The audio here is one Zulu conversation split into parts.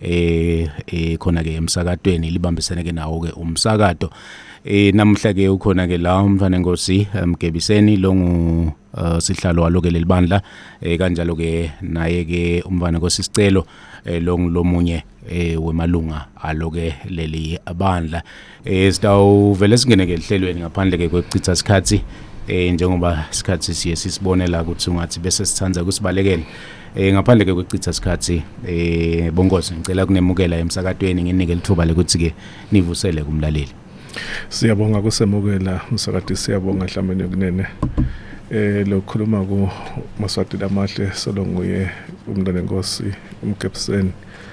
eh, eh khona ke emsakatweni libambisene ke nawo ke umsakato eh namuhla ke ukhona ke la umfana enkosi emgebiseni eh, longu uh, sihlalo walo ke lelibandla eh kanjalo ke naye ke umfana enkosi sicelo eh longu lomunye eh wemalunga alo ke leli bandla Eh sitawuvele singene ke ehlelweni ngaphandle ke kokuchitha isikhathi eh njengoba isikhathi siye sisibone la ukuthi ungathi bese sithanda ukusibalekela eh ngaphandle ke kokuchitha isikhathi eh bonkosi ngicela kunemukela emsakatweni nginike lithuba lokuthi ke nivusele kumlaleli Siyabonga kusemukela msakati siyabonga Dlamini kunene eh lokhuluma ku Maswati lamahle solo nguye umntana enkosi umgebseni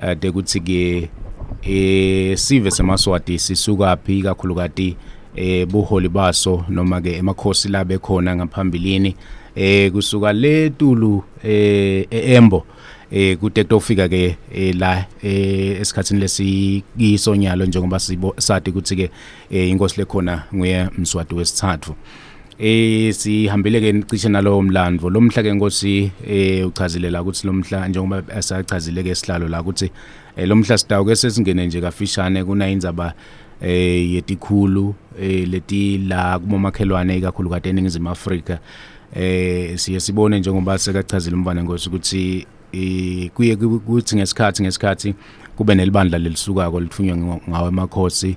ade eh, kuthi ke eh sive semaswati sisuka phi kakhulukati eh buholi baso noma ke emakhosi la bekhona ngaphambilini eh kusuka le tulu eh eembo eh kude kutofika ke eh, la eh, esikhatsini lesikisonyalo njengoba sibo sati ukuthi ke eh, inkosi lekhona nguye mswati wesithathu eh sihambile ke cishe nalowo mlandvo lomhla ke nkosi eh uchazile la ukuthi lomhla njengoba asachazile ke sihlalo la ukuthi eh, lomhla sidawu ke sesingene nje kafishane kuna indzaba eh yetikhulu eh leti la kumomakhelwane ikakhulu kade eningizimu Afrika eh siye sibone njengoba sekachazile umvana ngosi ukuthi eh, kuye kuthi ngesikhathi ngesikhathi kube nelibandla lelisukako lithunywa ngawe emakhosi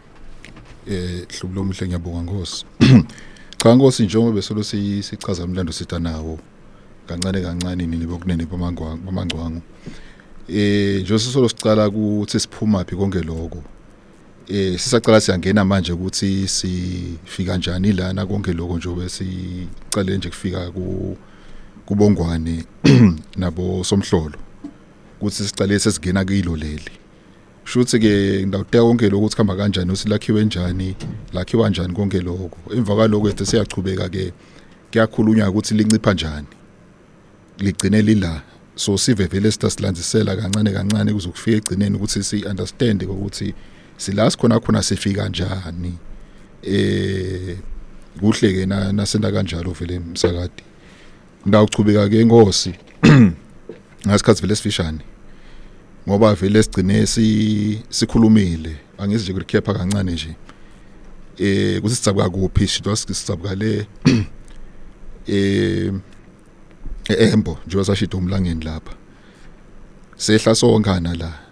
eh hlubu lomuhle ngiyabonga nkosi cha nkosi njengoba besolo sichaza umlando sitha nawo kancane kancane nini bokunene bamangwangu bamangwangu eh nje sisolo sicala ukuthi siphuma phi konke lokho eh sisacala siyangena manje ukuthi sifika kanjani lana konke lokho nje besicale nje kufika ku kubongwane nabo somhlolo ukuthi sicale sesingena kilo leli shuthi ke ngidawuteka konke lokho ukuthi khamba kanjani uthi lakhiwe njani lakhiwa kanjani konke lokho emva kwaloko ethe siyachubeka ke kuyakhulunywa ukuthi lincipha njani ligcine lila so sive vele sitasilandzisela kancane kancane kuzokufika egcineni ukuthi si understand ukuthi sila sikhona khona sifika kanjani eh kuhle ke na nasenda kanjalo vele msakadi Ngawuchubeka ke inkosi ngasikhathi vele sifishane ngoba vele sigcine si sikhulumile angizi nje kulikhepha kancane nje eh kuthi sicabuka kuphi shidwa sicabuka le eh eembo njengoba sashida umlangeni lapha sehla sonkana la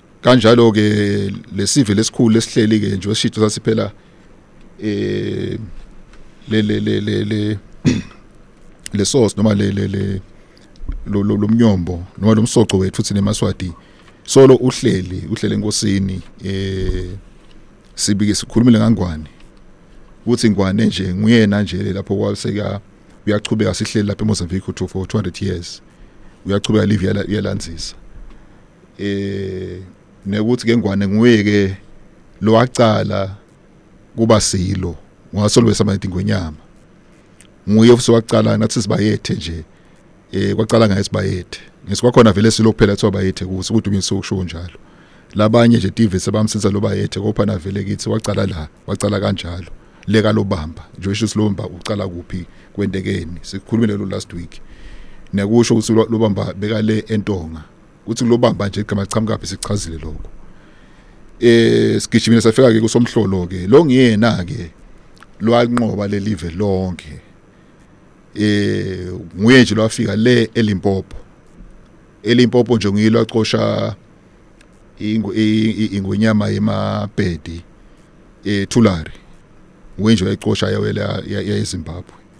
kanjalo ke lesive lesikhulu lesihleli ke nje oshido sasiphela eh le le le le le le sauce noma le le le lo lo mnyombo noma lo msoco wethu thina emaswati solo uhleli uhlele enkosini eh sibike sikhulumile ngangwane ukuthi ngwane nje nguyena nje lapho kwaseka uyachubeka sihleli lapha eMozambique to for 200 years uyachubeka live yalanzisa eh nekuthi ke ngwane nguye ke lo wacala kuba silo wasolwesa amayithi ngwenyama nguye futhi wacala nathi sibayethe nje eh kwacala ngaye sibayethe ngesikwakhona vele silo kuphela kuthiwa bayethe kuthi ukuthi umise ukusho njalo labanye nje TV sebamsiza lo bayethe kopha navele kithi wacala la wacala kanjalo leka lobamba nje usho silomba ucala kuphi kwentekeni sikhulumile lo last week nekusho ukuthi lobamba beka le entonga ukuthi lobamba nje igama lichamukaphi sichazile lokho eh sigijimile safika ke kusomhlolo ke lo ngiyena ke lwanqoba lelive lonke eh nguye nje lwafika le elimpopo elimpopo nje ngiyilo acosha ingwenyama yemabhedi ethulari eh, nguye nje wayicosha yawela yayizimbabwe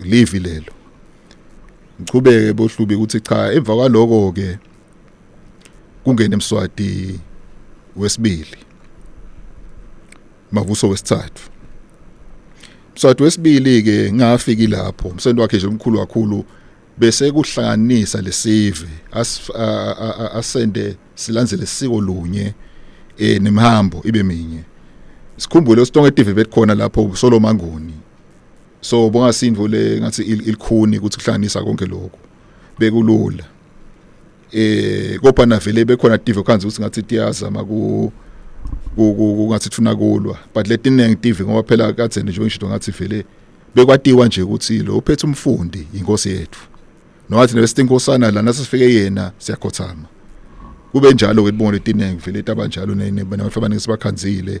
livi lelo ngichubeke bohlubi ukuthi cha emva kwaloko ke kungena emswati wesibili mavuso wesithathu mswati wesibili ke ngafiki lapho umsebenzi wakhe nje omkhulu kakhulu bese kuhlanganisa lesive asende silandzele isiko lunye eh nemhambo ibe minye sikhumbule uStonge TV bekukhona lapho uSolomanguni so bongasindvo le ngathi ilikhuni ukuthi kuhlanganisa konke lokho bekulula eh kodwa navele bekhona TV khanzi ukuthi ngathi tiyazama ku kungathi thuna kulwa but letiningi TV ngoba phela kade nje ngisho ngathi vele bekwatiwa nje ukuthi lo uphethe umfundi inkosi yethu nowathi nebesinkosana lana sifike yena siyakhothama kube njalo ke libonga letiningi vele tabanjalo nabafana ngisibakhanzile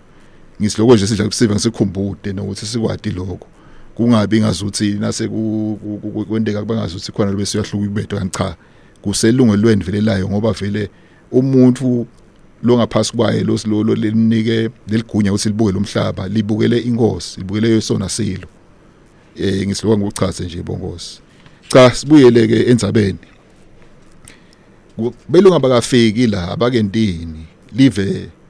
ngisiloko nje sidla kusiva ngisikhumbute nokuthi sikwati lokho kungabi ngazuthi nase kwendeka kuba ngazuthi khona bese uyahluka ibetho kanti cha kuselungelweni vele layo ngoba vele umuntu lo ngaphasi kwaye lo silolo lelinike leligunya ukuthi libuke lomhlaba libukele inkosi libukele yesona silo eh ngisiloka ngokuchaze nje bonkosi cha sibuyele ke enzabeni belunga bakafiki la abakentini live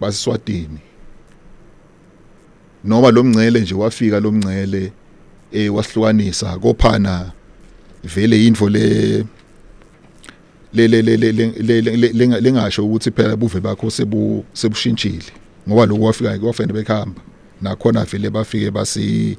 basiswatini noma lo mngcele nje wafika lo mngcele eh wasihlukanisa kophana vele into le le le le le lengasho ukuthi phela buve bakho sebu sebushintshile ngoba lokho wafika kwafanele bekhamba nakhona vele bafike basi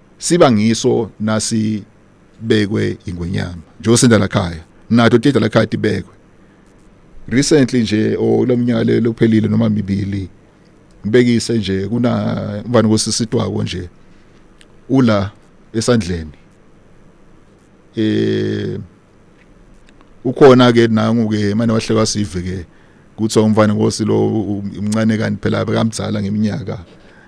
siba ngiso nasi bekwe ingwenyama njengoba senda la khaya nato tida la khaya tibekwe recently nje olomnyaka lelophelile noma mibili ngibekise nje kuna mfana kosisitwako nje ula esandleni eh ukhona ke nangu ke manje wahlekwa sive ke kuthi umfana ngosi lo umncane kanti phela bekamdzala ngeminyaka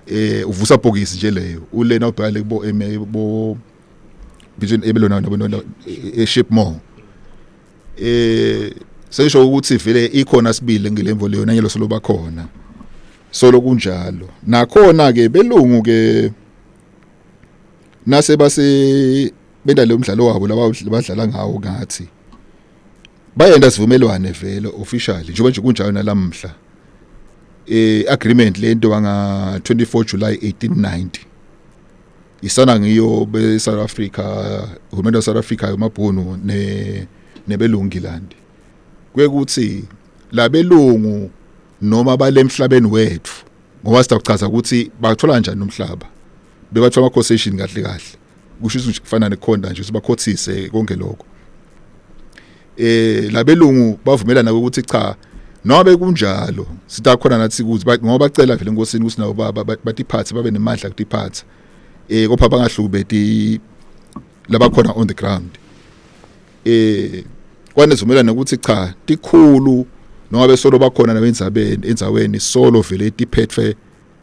eh uvusa bhokisi nje leyo ulena ubhale kubo eme bo between ebelona nabona e shipmore eh sesho ukuthi vele ikhona sibili ngelemvo leyo nanyelo solo bakhona solo kunjalo nakhona ke belungu ke nase base benalo mdlalo wabo laba badlala ngawo ngathi bayenda sivumelwane vele officially njengoba nje kunjalo nalamhla eh agreement lento banga 24 July 1890 isana ngiyo be South Africa uhulumende South Africa yomabhunu ne nebelungilandi kwekuthi labelungu noma balemhlabeni wethu ngoba sitawuchaza ukuthi bathola kanjani umhlaba bebathola ama concession kahle kahle kusho ukuthi kufana nekhonda nje sibakhothise konke lokho eh labelungu bavumelana ukuthi cha nobe kunjalo sitakhona nathi ukuthi ngoba bacela vele enkosini ukuthi nabo batiphathe babe nemandla kutiphatha eh kopha bangahlukubeti labakhona on the ground eh kwanezumelana ukuthi cha tikhulu noma besolo bakhona nabendzabeni endzaweni solo vele tiphethwe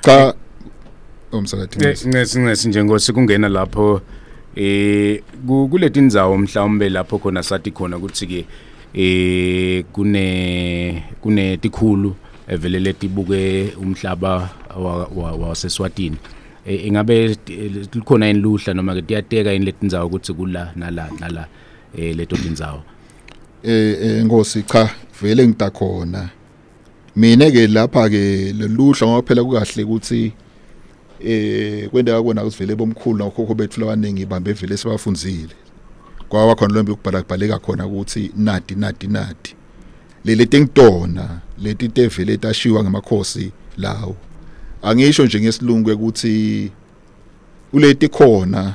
cha umsakathi ncesi ncesi nje ngosi kungena lapho eh kuleti inzawo mhlawumbe lapho khona sathi khona ukuthi ke eh kune kune tikhulu evelele tibuke umhlaba waseswatini eh, ingabe likhona yini luhla noma ke tiyateka yini letinzawo ukuthi kula nala nala eh leto tinzawo eh, eh ngosi cha vele ngita khona mina ke lapha ke leluhla ngoba phela kukahle ukuthi eh kwenda yakona kusivele bomkhulu nokhokho bethu labaningi bambe vele sibafunzile kwawa khona lombe ukubhala kubhaleka khona ukuthi nadi nadi nadi leli tengidona leti tevele tashiwa ngemakhosi lawo angisho nje ngesilungu ukuthi kuleti khona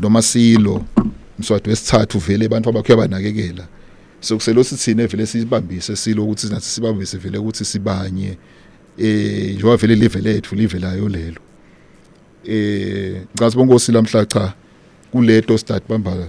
noma silo mswati wesithathu vele abantu abakho abanakekela sokuselo sithine vele sibambise silo ukuthi nathi sibambise vele ukuthi sibanye eh njengoba vele live lethu live layo lelo eh ngicela bonke osila mhla cha kuleto start bambaka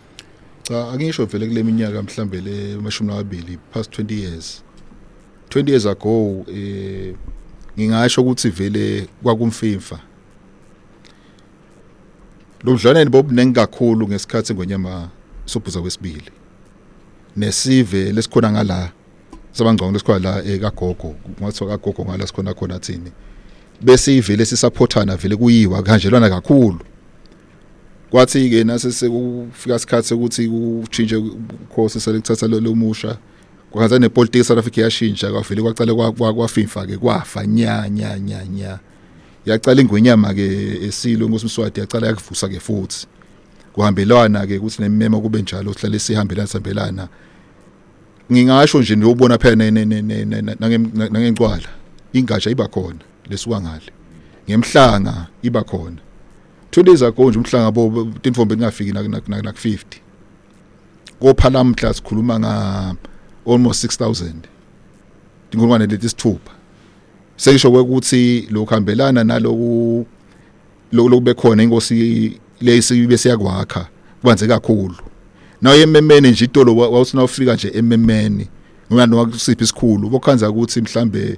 cha angisho vele kule minyaka mhlambe le mashumi amabili past 20 years 20 years ago eh ngingasho ukuthi vele kwakumfimfa lo budlwaneni bobuningi kakhulu ngesikhathi ngonyama sobhuza kwesibili nesive lesikhona ngala sabangcwango lesikhona la ekagogo eh, ngathiwa kagogo ngala sikhona khona thini bese ivele sisaphothana vele kuyiwa kanjelwana kakhulu kwathi-ke nase sekufika isikhathi sokuthi kushintshe ukhosi selekuthatha lo musha kwakaza nepolitiki eSouth Africa yashintsha kwavele kwaqale kwafifa ke kwafa nya nya nya nya yaqala ingwenyama ke esilo inkosi Mswati yaqala yakuvusa ke futhi kuhambelwana ke ukuthi nemema kube njalo sihlale sihambelana sihambelana ngingasho nje niyobona phela nangencwala ingatsha iba khona lesuka ngale ngemhlanga iba khona two days ago nje umhlanga bo tinfombe lingafiki naku-50 kophala mhla sikhuluma nga almost 6000 inkulungwane leti sithupha seyisho ukuthi lokuhambelana naloku lokube khona inkosi lesi bese yakwakha kubanze kakhulu nayo ememene nje itolo wawusina ufika nje ememene ngoba nokusiphi isikhulu bokhanza ukuthi mhlambe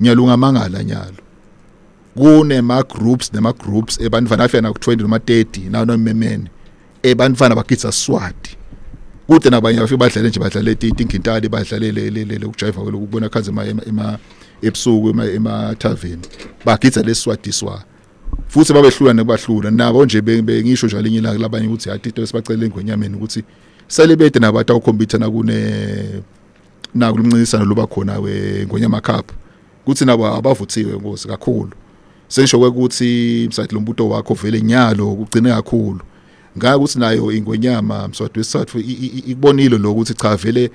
nyalo ungamangala nyalo kunema groups nema groups ebantwana afika na ku 20 noma 30 nawo nomemene ebantwana bakitsa swati kude nabanye bafike badlale nje badlale itingintali badlale le le le ukujiva lokubona khanze ema ema ebusuku ema ema tavern bagitsa leswati swa futhi babehlula nebahlula nabo nje bengisho njalo inye ilanga labanye ukuthi hathi into esibacela engwenyameni ukuthi sele bede nabantu awukhompyutha nakune naku luncintisano luba khona weNgonyama Cup kuthi nabo abavuthiwe ngozi kakhulu sesho ukuthi msathi lombuto wakho vele nyalo ugcine kakhulu ngaka ukuthi nayo ingonyama mswati wesathu ikubonile lo ukuthi cha vele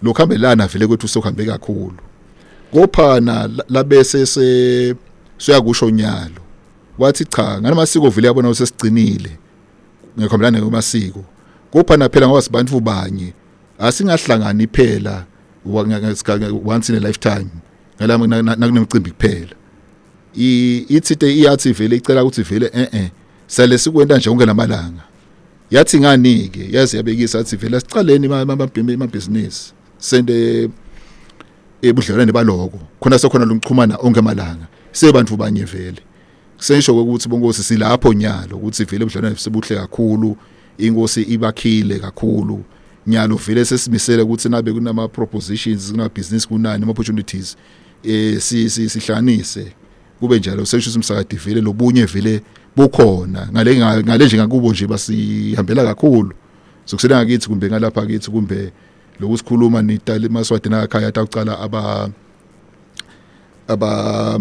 lokhambelana vele kwethu sohambe kakhulu kophana labese se siyakusho nyalo wathi cha nganamasiko vele yabona usesigcinile ngikhambelana ngamasiko kophana phela ngoba sibantu banye asingahlangani phela once in a lifetime ngalama nakunemcimbi kuphela ithi iyathi vele icela ukuthi vele eh eh sale sikwenta nje konke lamalanga yathi ngani ke yazi yabekisa athi vele sicaleni amabhimi amabhizinisi sende ebudlelwane baloko khona sokhona lungichumana onke amalanga sebantu banye vele kusesho ukuthi bonkosi silapho nyalo ukuthi vele ubudlelwane sibuhle kakhulu inkosi ibakhile kakhulu nyalo vele sesimisele ukuthi nabe kunama propositions kuna business kunani ama opportunities eh si sihlanise kube njalo sesho umsakadi vele lobunye vele bukhona ngale ngale nje ngakubo nje basihambela kakhulu sokusela ngakithi kumbe ngalapha kithi kumbe lokusikhuluma nitali maswadi nakhaya atawucala aba aba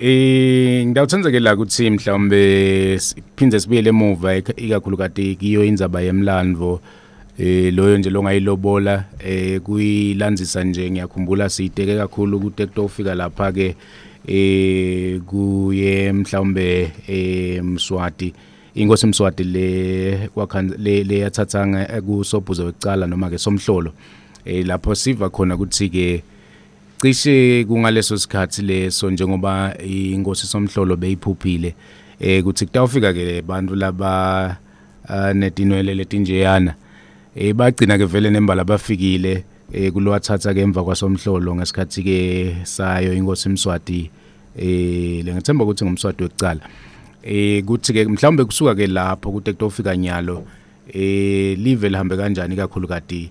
Eh ngidawuthenzeke la ukuthi mhlawumbe siphinde sibuyele emuva ikakhulu kade kiyo indzaba yemlandvo eh loyo nje longayilobola eh kuyilandzisa nje ngiyakhumbula siyiteke kakhulu kude kutofika lapha ke eh kuye mhlawumbe eh Mswati inkosi Mswati le kwakhan le leyathathanga kusobhuzo wecala noma ke somhlolo eh lapho siva khona ukuthi ke Cishe kungaleso sikhathi leso njengoba inkosi somhlolo beyiphuphile eh kuthi kutawufika ke abantu laba eh, netinwele letinjeyana eh bagcina ke vele nembala bafikile eh kulowathatha ke emva kwasomhlolo ngesikhathi ke sayo inkosi Mswati eh lengethemba ukuthi ngumswati wekucala eh kuthi ke mhlawumbe kusuka ke lapho kuthi kutofika nyalo eh live lihambe kanjani kakhulu kati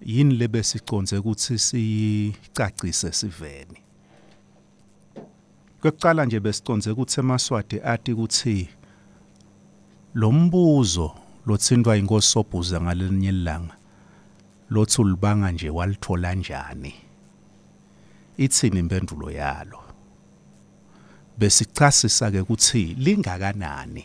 yini lebesiconze ukuthi siyicacise siveni kweqala nje besiconze ukuthi emaswati ati ukuthi lombuzo lotsindwa inkosi sobhuza ngalelinye ilanga lothi ulibanga nje walithola njani ithini impendulo yalo besichasisa ke ukuthi lingakanani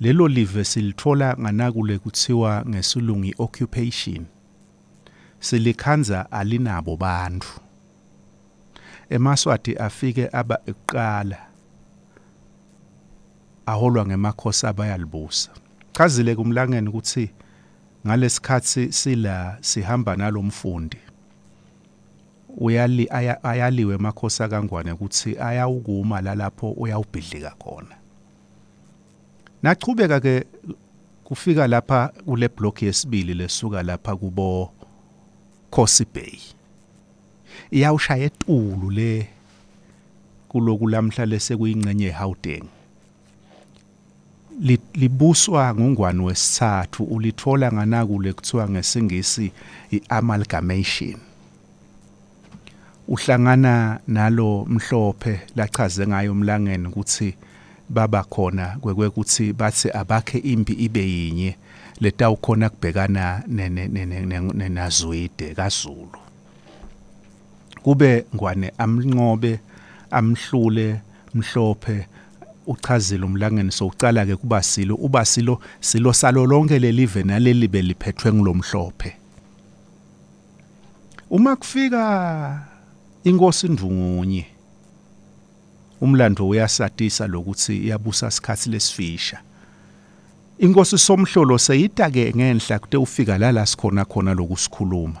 Lelo live silithola nganakule kuthiwa ngesilungu i-occupation. Silikhanza alinabo bantu. EmaSwati afike aba ekuqala aholwa ngemakhosi abayalibusa. Chazile kumlangeni ukuthi ngalesikhathi sila sihamba nalomfundi. Uyali, aya, ayaliwe amakhosi akangwane ukuthi ayawukuma lalapho uyawubhidlika khona. Naqhubeka ke kufika lapha kule block yesibili lesuka lapha kubo Khosi Bay. Iyawushaya etulu le kuloku lamhla lesekuyingxenye yeHauteng. libuswa nguNgwani wesithathu ulithola nganakule kuthiwa ngesingisi i-amalgamation uhlangana nalo mhlophe lachaze ngayo umlangeni ukuthi baba khona kwekuthi bathi abakhe impi ibe yinye letawukhona kubhekana nenazwide kaZulu kube ngwane amnqobe amhlule mhlophe uchazile umlangeni sowucala ke kuba silo uba silo silo salo lonke lelive naleli beliphethwe ngilomhlophe uma kufika inkosi indungunye umlando uyasatisa lokuthi iyabusa isikhathi lesifisha inkosi somhlolo seyitake ngenhla kute ufika lala sikhona khona lokusikhuluma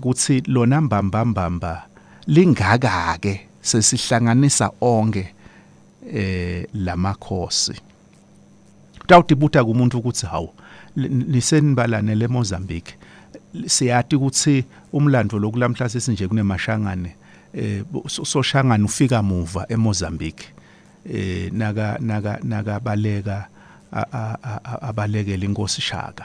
kuthi lona mbambambamba lingaka-ke sesihlanganisa onke eh lamakhosi utawutibuta kumuntu ukuthi hawu nisenibalane le Mozambique siyati ukuthi umlando lokulamhla sesinje kunemashangane eh soshangana ufika muva eMozambique eh naka naka nakabaleka abalekela inkosi Shaka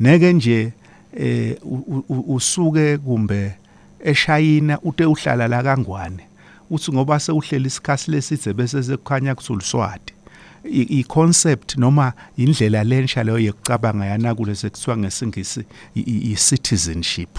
neke nje eh usuke kumbe eShayina ute uhlala la kangwane uthi ngoba sewuhleli isikhathi lesithe bese sekukhanya kusuluswati i concept noma indlela lensha leyo yekucabanga yana kule sekuthiwa ngesingisi i citizenship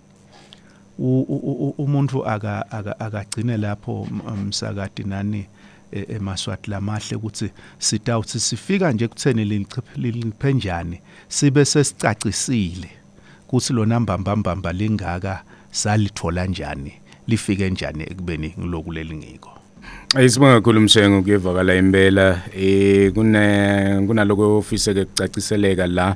umuntu aka akagcine lapho msakati nani e, emaswati lamahle ukuthi sitawuthi sifika nje kutheni linciphe njani sibe sesicacisile ukuthi lona mbambambamba lingaka salithola njani lifike njani ekubeni ngiloku lelingiko Ayisibonga kakhulu Mshengo kuyevakala impela eh kune kunaloko ofise ke kucaciseleka la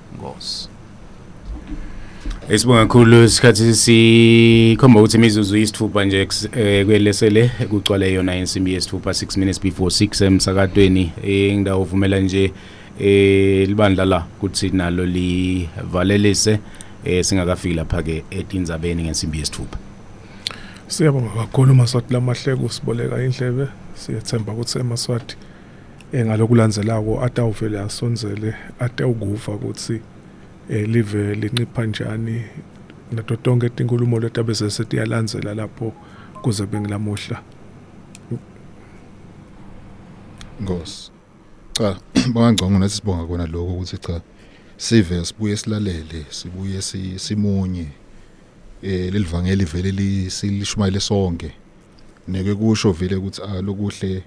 Nkosi. Esibonga kakhulu isikhathi sikhomba ukuthi imizuzu isithupha nje eh, kwelesele kucwale yona insimbi yesithupha 6 minutes before 6 emsakadweni indawo uvumela nje eh libandla la kuthi nalo livalelise eh singakafiki lapha ke etindzabeni ngensimbi yesithupha Siyabonga kakhulu Maswati lamahleko siboleka indlebe siyethemba ukuthi eMaswati eh, ngalokulandzelako atawuvele asondzele atawukuva kutsi eh, live lincipha njani nato tonkhe tinkhulumo letabe sesetiyalandzela lapho kuze bengilamuhla Nkosi cha bangangcongo nathi sibonga kona lokho ukuthi cha sive sibuye silalele sibuye simunye eh lelivangeli vele lishumayele sonke neke kusho vele ukuthi a ah, lokuhle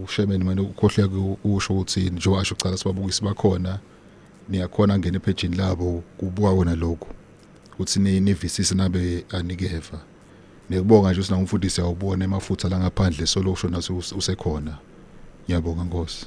ushemeni manje ukhohle ukusho ukuthi njengoba asho kucala sibabukisi bakhona niyakhona ngene ephejini labo kubuka wona lokho ukuthi nivisise nabe anikeva nekubonga nje usina umfundisi awubone emafutha la ngaphandle solo usho naso usekhona ngiyabonga nkosi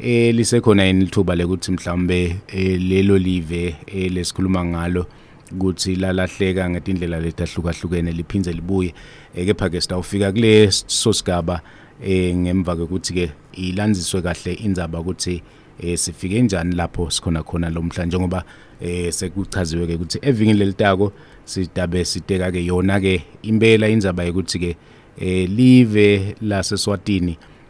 eh lisekhona yini lithuba lekuthi mhlawumbe eh, lelo live eh, lesikhuluma ngalo ukuthi lalahleka ngetindlela letahlukahlukene liphinde libuye eh, kepha ke sitawufika kule sosigaba eh ngemva kokuthi ke ilandziswe kahle indzaba ukuthi eh sifike njani lapho sikhona khona lomhla njengoba eh sekuchaziwe ke ukuthi evikini lelitako sidabe siteka ke yona ke impela indzaba yokuthi ke eh live lase Swatini